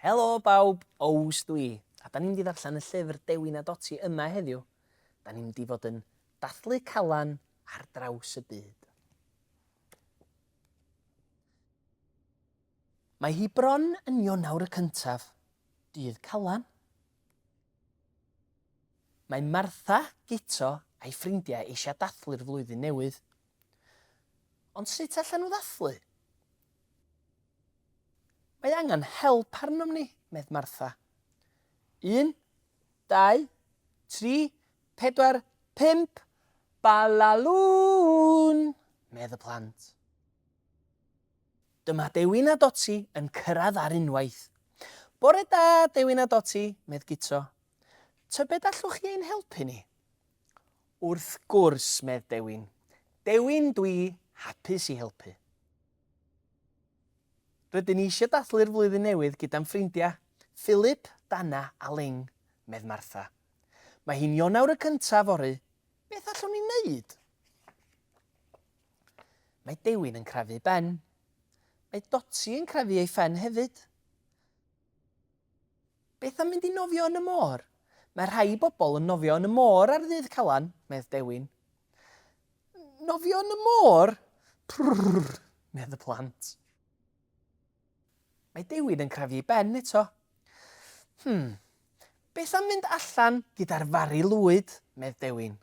Helo bawb, Ows dwi, a da ni'n mynd i ddarllen y llyfr Dewi na Doti yma heddiw. Da ni'n mynd i fod yn dathlu calan ar draws y byd. Mae hi bron yn Ionawr y cyntaf, dydd calan, Mae Martha, Guto a'i ffrindiau eisiau dathlu'r flwyddyn newydd. Ond sut allan nhw ddathlu? Mae angen help arnom ni, medd Martha. Un, dau, tri, pedwar, pump, balalŵn! medd y plant. Dyma Dewin a Doti yn cyrraedd ar unwaith. Bore da, Dewin a Doti, medd Guto. Tybed allwch chi ein helpu ni? Wrth gwrs, medd Dewin. Dewin, dwi hapus i helpu. Rydyn ni eisiau dathlu'r flwyddyn newydd gyda'n ffrindiau, Philip, Dana a Ling, medd Martha. Mae hi'n Ionawr y cyntaf fory, beth allwn ni wneud? Mae Dewin yn crefu Ben. Mae Dotty yn crefu ei phen hefyd. Beth am mynd i nofio yn y môr? Mae rhai bobl yn nofio yn y môr ar ddydd Calan, medd Dewin. Nofio yn y môr? Prrrr, medd y plant. Mae Dewin yn crefu ei ben eto. Hmm, beth am mynd allan gyda'r fari lwyd, medd Dewin.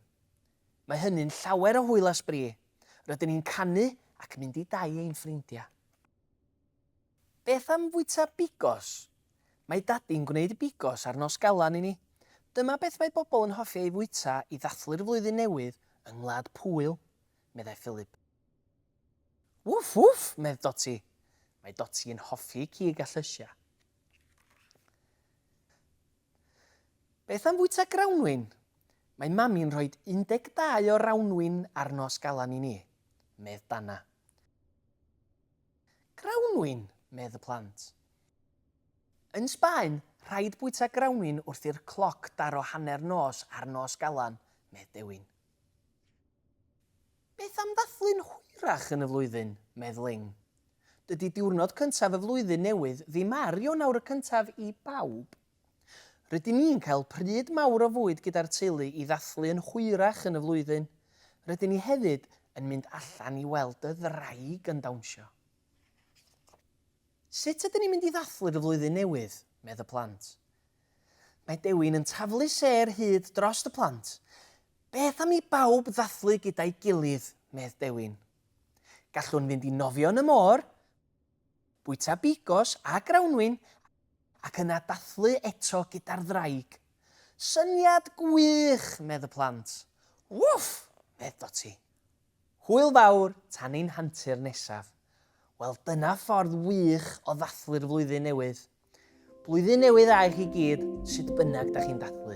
Mae hynny'n llawer o hwyl a sbri. Rydyn ni'n canu ac mynd i dai ein ffrindiau. Beth am fwyta bigos? Mae Dadi'n gwneud bigos ar Nos Galan i ni. Dyma beth mae bobl yn hoffi ei fwyta i ddathlu'r flwyddyn newydd yng Ngwlad Pwyl, meddai Philip. Wff wff! medd Doti. Mae Doti yn hoffi cig a llysiau. Beth am fwyta grawnwin? Mae Mami'n rhoi 12 o rawnwin ar nos Galan i ni, medd Dana. Grawnwin! medd y plant. Yn Sbaen, rhaid bwyta grawnwin wrth i'r cloc daro hanner nos ar nos Galan, medd Dewin. Beth am ddathlu'n hwyrach yn y flwyddyn? medd Ling. Dydy diwrnod cyntaf y flwyddyn newydd ddim ar Ionawr y cyntaf i bawb. Rydyn ni'n cael pryd mawr o fwyd gyda'r teulu i ddathlu yn hwyrach yn y flwyddyn. Rydyn ni hefyd yn mynd allan i weld y ddraig yn dawnsio. Sut ydyn ni'n mynd i ddathlu'r flwyddyn newydd? medd y plant. Mae Dewin yn taflu sêr hud drost y plant. Beth am i bawb ddathlu gyda'i gilydd, medd Dewin. Gallwn fynd i nofio yn y môr, bwyta bigos a grawnwin ac yna dathlu eto gyda'r ddraig. Syniad gwych, medd y plant. Wff! medd Doti. Hwyl fawr tan ein hantur nesaf. Wel dyna ffordd wych o ddathlu'r flwyddyn newydd. Blwyddyn newydd dda i chi gyd, sut bynnag da chi'n dathlu.